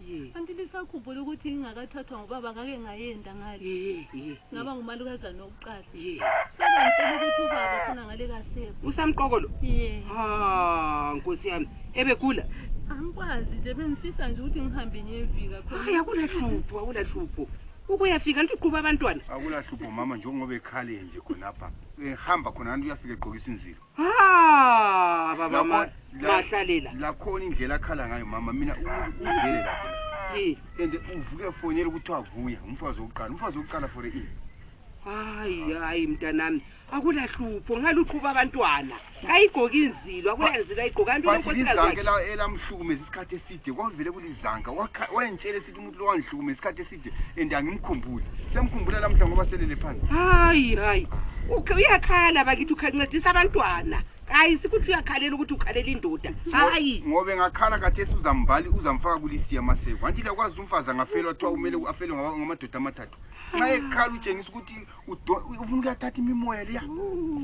Ye. Kanti lisakhumbula ukuthi ngingakathathwa ngubaba ngake ngayenda ngale. Ye, ye, Ngaba ye, ngumalukazana wokuqala. ye. Sebengitshela ukuthi ubaba khona ngale kasekho. Usamqoko lo? Ye. Ha, nkosi yami. Ebegula? Angikwazi nje bengifisa nje ukuthi ngihambe ngiyefika khona. Hayi akulahlupho, akulahlupho. Ukuyafika liqhuba abantwana. Akulahlupho mama njengoba ekhale nje khonapha. Ehamba khona kanti uyafika egqokisa inzilo. ha baba ma- Yabona- la- mahlalela lakhona indlela akhala ngayo mama mina umuntu uzele lapho Eh, and uvuke fonela ukuthi wavuya umfazi wokuqala umfazi wokuqala for ini hayi hayi mntanami akulahlupho ngaluqhuba abantwana kayigoki inzilo akulanzilo ayigoka but lizanka ela- elamhlukumeza isikhathi eside kwavele kulizanka wakha- wayengitshela umuntu lo wangihlukume isikhathi eside and angimkhumbuli semkhumbula lamhla ngoba selele phansi hayi hayi Uke- uyakhala bakithi ukhancedisa abantwana hayi sikuthi uyakhalela ukuthi ukhalela indoda hayi ngobe ngakhala kathesi uzambali uzamfaka kulisiya maseko anti lakwazi ukuthi umfazi angafelwa kuthiwa kumele afele ngama- ngamadoda amathathu nxa ekhala utshengisa ukuthi Udo- ufuna ukuyathatha imimoya leya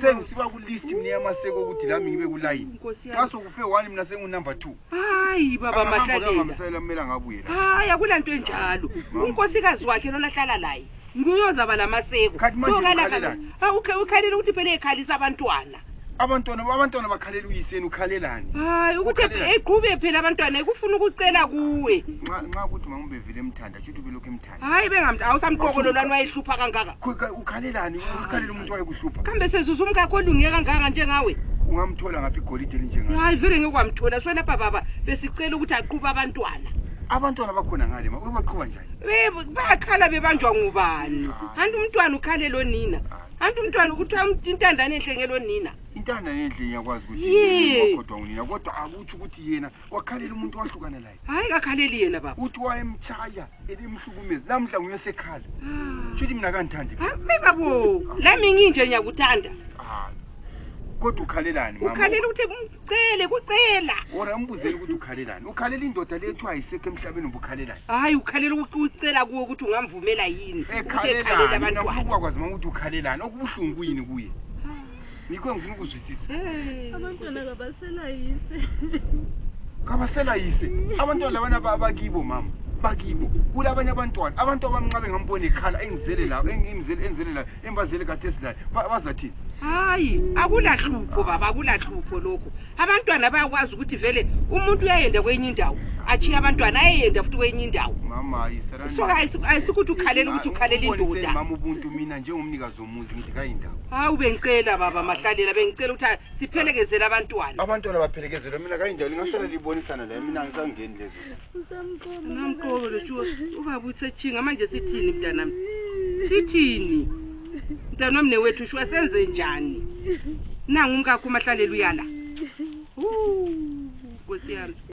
sengisiba kulist mina yamaseko ukuthi lami ngibe kulayini Nkosi yami. xa sokufe one mina sengunumber two hayi baba Angahamba mahlalela kuyohambisela kumele angabuye la hayi akula nto enjalo Mama. unkosikazi wakhe lona ahlala laye nguyozaba la maseko Khathi manje Sokala- ukhalelani? Ah, ukha- ukhalela ukuthi phela ekhalisa abantwana abantwana abantwana bakhalela uyiseni ukhalelani hayi ukuthi Ukhalela. eqhube phela abantwana ekufuna ukucela kuwe nxa nxa kuthi mama ubevele emthanda shuthi ubelokhu emthanda hayi bengamntu awusamqoko lo lani wayehlupha kangaka ukhalelani ukhalela umuntu wayekuhlupha kambe sezuza umkakho olunge kangaka njengawe ungamthola ngaphi igolide elinjengayo hayi vele ngeke kwamthola so lapha baba besicela ukuthi aqhuba abantwana abantwana bakhona ngale ma ubaqhuba njani bayakhala bebanjwa ngubani anti umntwana ukhalelo nina anti umntwana kuthiwa intandane enhle ngelo nina intandane enhle ngiyakwazi ukuthi kodwa unina kodwa akutsho ukuthi yena wakhalela umuntu wahlukana layo hayi kakhaleli yena baba uthi wayemtshaya ebimhlukumezi lamhla nguye sekhala ah. shuthi mina kandithandi hayi babo lami nginje ngiyakuthanda kodwa ukhalelani ukhalela ukuthi kumcele kucela or ambuzele ukuthi ukhalelani ukhalela indoda le ethiwa ayisekho emhlabeni uba ukhalelani hhayi ukhalela ukuthi ucela kuwo ukuthi ungamvumela yini ekhalelani ukwazi ma ukuthi ukhalelani okubuhlungu kuyini kuye yikho engifuna ukuzwisisa abantwana kabaselayise kabaselayise abantwana labana bakibo mama bakibo kulabanye abantwana abantu abamncabe ngambona ekhala engizele layo engizele layo embazele kade esilayo bazathini hayi akulahlupho baba akulahlupho lokho abantwana bayakwazi ukuthi vele umuntu uyayenda kwenye indawo achiye abantwana ayeyenda futhi kwenye indawo so ayisikuthi ukhalela indoda umuzi ngithi kayindawo hawu bengicela baba mahlalela bengicela ukuthi siphelekezele abantwana abantwana baphelekezelwe mina kayindawo lingasala libonisana layo mina ngisangeni lezo namqobo lotshuwa ubaba utsetshinga manje sithini mntanami sithini mntanami newethu shuwa senze njani nangu umkakho umahlalela uyala nkosi yami